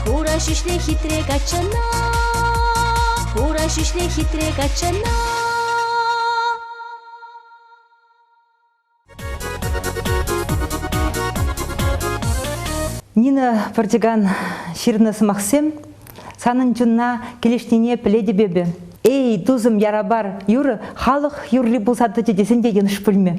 Хура ҫӳҫле хитре каччана, хура ҫӳҫле хитре каччана. Нина Портиган ҫырнӑ сӑмахсем санӑн чунна килӗшнине пӗлетӗп эпӗ. Эй, тусӑм, ярапар юрӑ халӑх юрри пулса тӑчӗ тесен те йӑнӑш пулмӗ.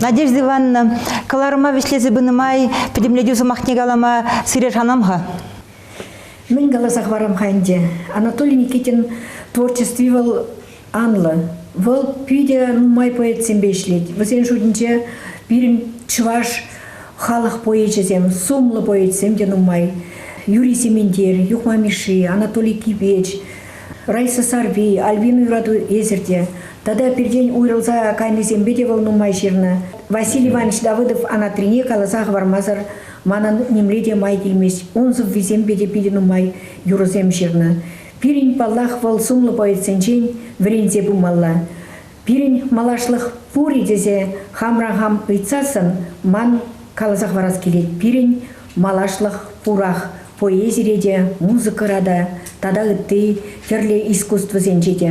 Надежда Ивановна, кӑларӑма вӗҫлесе пынӑ май пӗтӗмлетӳ сӑмахне калама сире шанам-ха. Мӗн каласа хӑварам-ха ӗнтӗ, Анатолий Никитин творчестви вӑл анлӑ. Вӑл питӗ нумай поэтсемпе ӗҫлет. Вӗсен шутӗнче пирӗн чӑваш халӑх поэчӗсем, сумлӑ поэтсем те нумай. Юрий Сементер, Юхма Мишши, Анатолий Кипеч, Райсасарпи, Альбина юрату эсир те тата пиртен уйрӑлса кайнисемпе те вӑл нумай ҫырнӑ. Василий Иванович Давыдов Анатрине каласа хӑвармасӑр манӑн нимле те май килмест. Ун сӑввисемпе те питӗ нумай юрӑсем ҫырнӑ. Пирӗн, паллах, вӑл сумлӑ поэтсенчен вӗренсе пымалла. Пирӗн малашлӑх пур-и тесе хамран хам ыйтсассӑн ман каласа хӑварас килет, пирӗн малашлӑх пурах, поэзире те, музыкӑра та тата ытти тӗрлӗ искусствӑсенче те.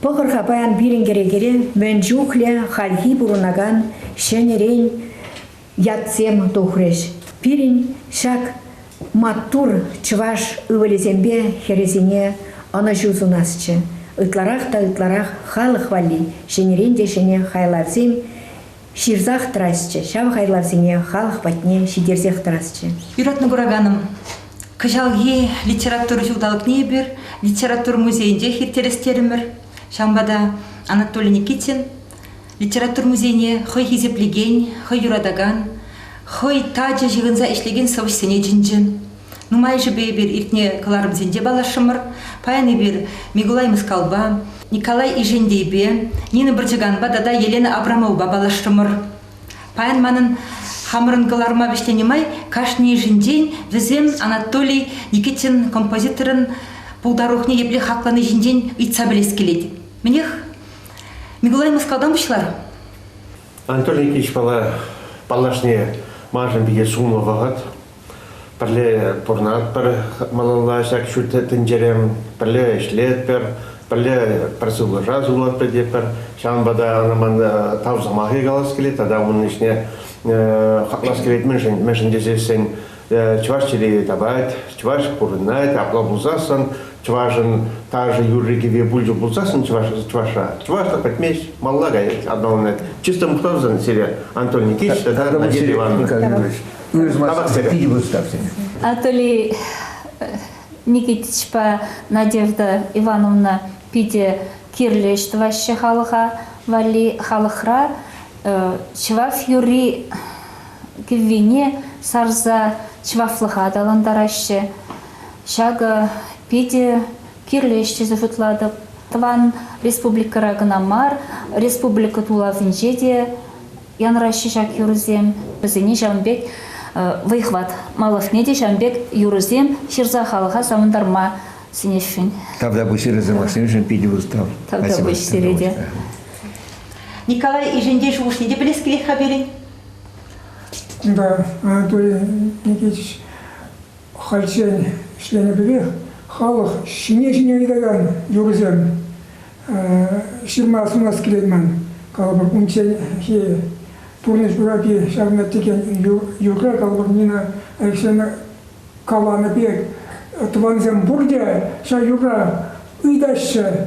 Пӑхӑр-ха паян пирӗн кӗрекере мӗн чухлӗ хальхи пурӑнакан ҫӗнӗрен ятсем тухрӗҫ. Пирӗн ҫак маттур чӑваш ывӑлӗсемпе хӗрӗсене ӑнӑҫу сунасчӗ. Ытларах та ытларах халӑх валли ҫӗнӗрен те ҫӗнӗ хайлавсем ҫырсах тӑрасчӗ, ҫав хайлавсене халӑх патне ҫитерсех тӑрасчӗ. Юратнӑ кураканӑм, кӑҫалхи литература ҫулталӑкне эпир литература музейӗнчех ирттерес терӗмӗр. Ҫавӑнпа та Анатолий Никитин Литература музейне хӑй хисеплекен, хӑй юратакан, хӑй тачӑ ҫыхӑнса ӗҫлекен сӑвӑҫсене чӗнчӗ. Нумайӑшӗпе эпир иртнӗ кӑларӑмсенче паллашрӑмӑр. Паян эпир Микулай Мускавпа, Николай Ишендейпе, Нина Бӑрчӑганпа тата Елена Абрамовӑпа паллашрӑмӑр. Паян манӑн хамӑрӑн кӑларӑма вӗҫленӗ май кашнийӗшӗнчен вӗсем Анатолий Никитин композиторӑн пултарулӑхне епле хаклани ҫинчен ыйтса пӗлес килет. Мӗнех, Николай Мускавтан пуҫлар. Анатолий Никитич мала паллашни маншӑн питӗ сумлӑ вӑхӑт. Пӗрле пурӑнатпӑр малалла ҫак ҫут тӗнчере. Пӗрле ӗҫлетпӗр, пӗрле пӗр сывлӑша сунатпӑр тетпӗр. Ҫавӑнпа та ӑна ман тав сӑмахӗ калас килет тата унӑн ӗҫне хаклас килет мӗншӗн, мӗншӗн тесессӗн чӑваш чӗлхи тапать, чӑваш пурӑнать, апла пулсассӑн чӑвашӑн ташӑ юрри-кӗвви пулчӗ пулсассӑн чӑваш, чӑвашра чӑвашла пӗтмест, малла каять аталанать. Чисто мухтавсан сире Антон Никитич тата Надежда Ивановна. Пожалуйста, питӗ выступсен. Анатолий Никитичпа Надежда Ивановна питӗ кирлӗ ӗҫ тӑваҫҫӗ халӑха валли. Халӑхра чӑваш юрри кӗввине сарса чӑвашлӑха аталантараҫҫӗ. Ҫакӑ питӗ кирлӗ ӗҫ тесе шутлатӑп. Тӑван республикӑра кӑна мар, республика тулавӗнче те янраҫҫӗ ҫак юрӑсем. Вӗсене ҫавӑн пек вӑйхӑват малӑшне те ҫавӑн пек юрӑсем ҫырса халӑха савӑнтарма сӗнесшӗн. Тавтапуҫ Ира Савватсеновичӑн питӗ устав. Тавтапуҫ сире те. Николай Ишентей шухӑшне те пӗлес килет-ха пирӗн. Кунта Анатолий Никитич хальччен ӗҫленӗ пекех халӑх ҫине-ҫине ыйтакан юрӑсем ҫырма сунас килет ман. Калӑпӑр, унчченхи пурнӑҫ урапи ҫавна текен юрра, калӑпӑр, Нина Алексеевна каланӑ пек, тӑвансем пурте ҫав юрра ыйтаҫҫӗ.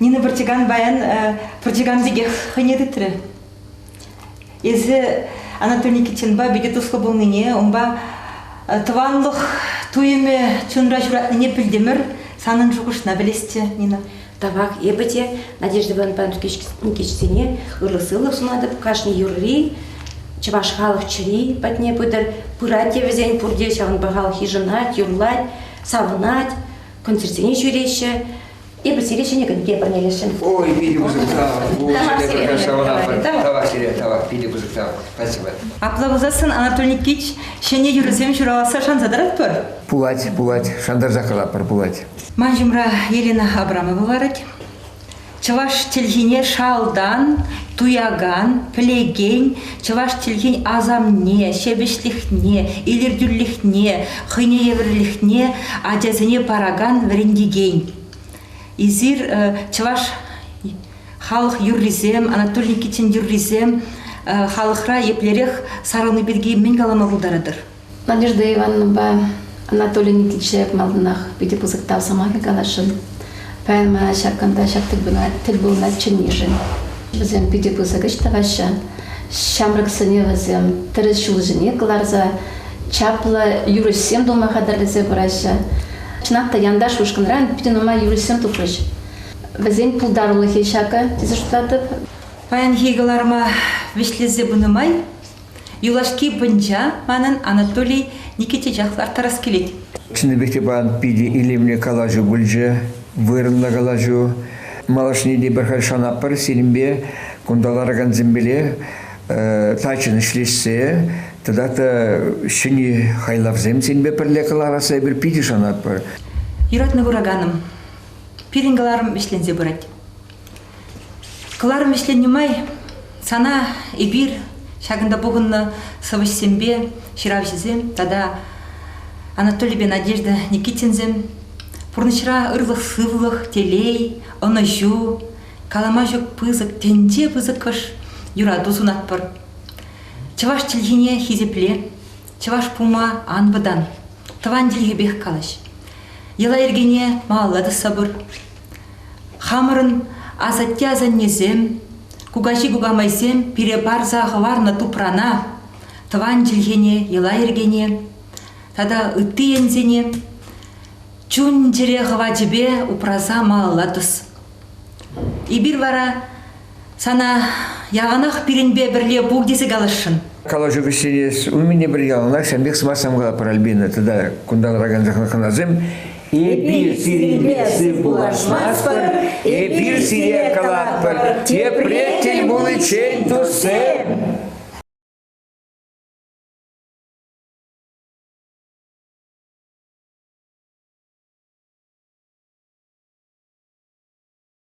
Нина Портиган баян Портиган пекех хӑйне тытрӗ. Эсӗ Анатолий Никитинпа питӗ туслӑ пулнине, унпа тӑванлӑх туйӑмӗ чунра ҫуратнине пӗлтӗмӗр. Санӑн шухӑшна пӗлесчӗ, Нина. Тавах эпӗ те Надежда Иванпа Никитсене ырӑ-сывлӑх сунатӑп. Кашни юрри чӑваш халӑх чӗри патне пытӑр. Пырать те вӗсен пурте, ҫавӑнпа халӑх йышӑнать, юрлать, савӑнать, концертсене ҫӳреҫҫӗ. Эпир сире ҫӗнӗкӗн тепӗрнелесшӗн. Ой, питӗ пысӑк Тавах сире, тавах, питӗ пысӑк тав. Спасибо. Апла пулсассӑн Анатолий Никитич ҫӗнӗ юрӑсем ҫураласса шанса тӑратпӑр? Пулать, пулать. Шантарса калатпӑр, пулать. Ман ҫумра Елена Абрамова ларать. Чӑваш чӗлхине шалтан, туякан, пӗлекен, чӑваш чӗлхин асамне, ҫепӗҫлӗхне, илӗртӳлӗхне, хӑйне евӗрлӗхне ачасене паракан вӗрентекен. Эсир чӑваш халӑх юррисем, Анатолий Никитин юррисем халӑхра еплерех сарӑлни пирки мӗн калама пултаратӑр? Надежда Ивановнӑпа Анатолий Никитича малтанах питӗ пысӑк тав сӑмахӗ каласшӑн. Паян мана ҫак кунта ҫак тӗл пулӑва чӗннишӗн. Вӗсем питӗ пысӑк ӗҫ тӑваҫҫӗ. Ҫамрӑксене вӗсем тӗрӗс ҫул ҫине кӑларса чаплӑ юрӑҫсем тума хатӗрлесе пыраҫҫӗ. Чӑнах та Янташ ушкӑнран питӗ нумай юрӑҫсем тухрӗҫ. Вӗсен пултарулӑхӗ ҫакӑ тесе шутлатӑп. Паянхи кӑларӑма вӗҫлесе пынӑ май Юлашки пӑнча манӑн Анатолий Никитичах ларттарас килет. Чӑннипех те пан питӗ илемлӗ калаҫу пулчӗ, вырӑнлӑ калаҫу. Малашне те пӗр халь шанатпӑр сирӗнпе, кунта ларакансемпеле, тачӑн ӗҫлешсе тата та ҫӗнӗ хайлавсем сирӗнпе пӗрле кӑларасса эпир питӗ шанатпӑр. Юратнӑ кураканӑм, пирӗн кӑларӑм вӗҫленсе пырать. Кӑларӑм вӗҫленнӗ май сана эпир ҫакӑнта пухӑннӑ сӑвӑҫсемпе ҫыравҫӑсем тата Анатолийпе Надежда Никитинсем пурнӑҫра ырлӑх-сывлӑх, телей, ӑнӑҫу, калама ҫук пысӑк, тӗнче пысӑкӑш юрату сунатпӑр. Чӑваш чӗлхине хисепле, чӑваш пулма ан вӑтан, тӑван чӗлхепех калаҫ. Йӑла-йӗркене малалла тӑсса пыр. Хамӑрӑн асатте-асаннесем, кукаҫи-кукамайсем пире парса хӑварнӑ тупрана, тӑван чӗлхене, йӑла-йӗркене тата ытти енсене чун-чӗре хӑвачӗпе упраса малалла тӑс. Эпир вара Сана яланах пирӗнпе пӗрле пул тесе каласшӑн. Калаҫу вӗҫленес умӗне пӗр яланах ҫавӑн пек сӑмахсем калаппӑр, Альбина, тата кунтан тӑракан хӑнасем, эпир сирӗнпе сыв пулашмастпӑр, эпир сире калатпӑр, тепре тӗл пуличчен туссем!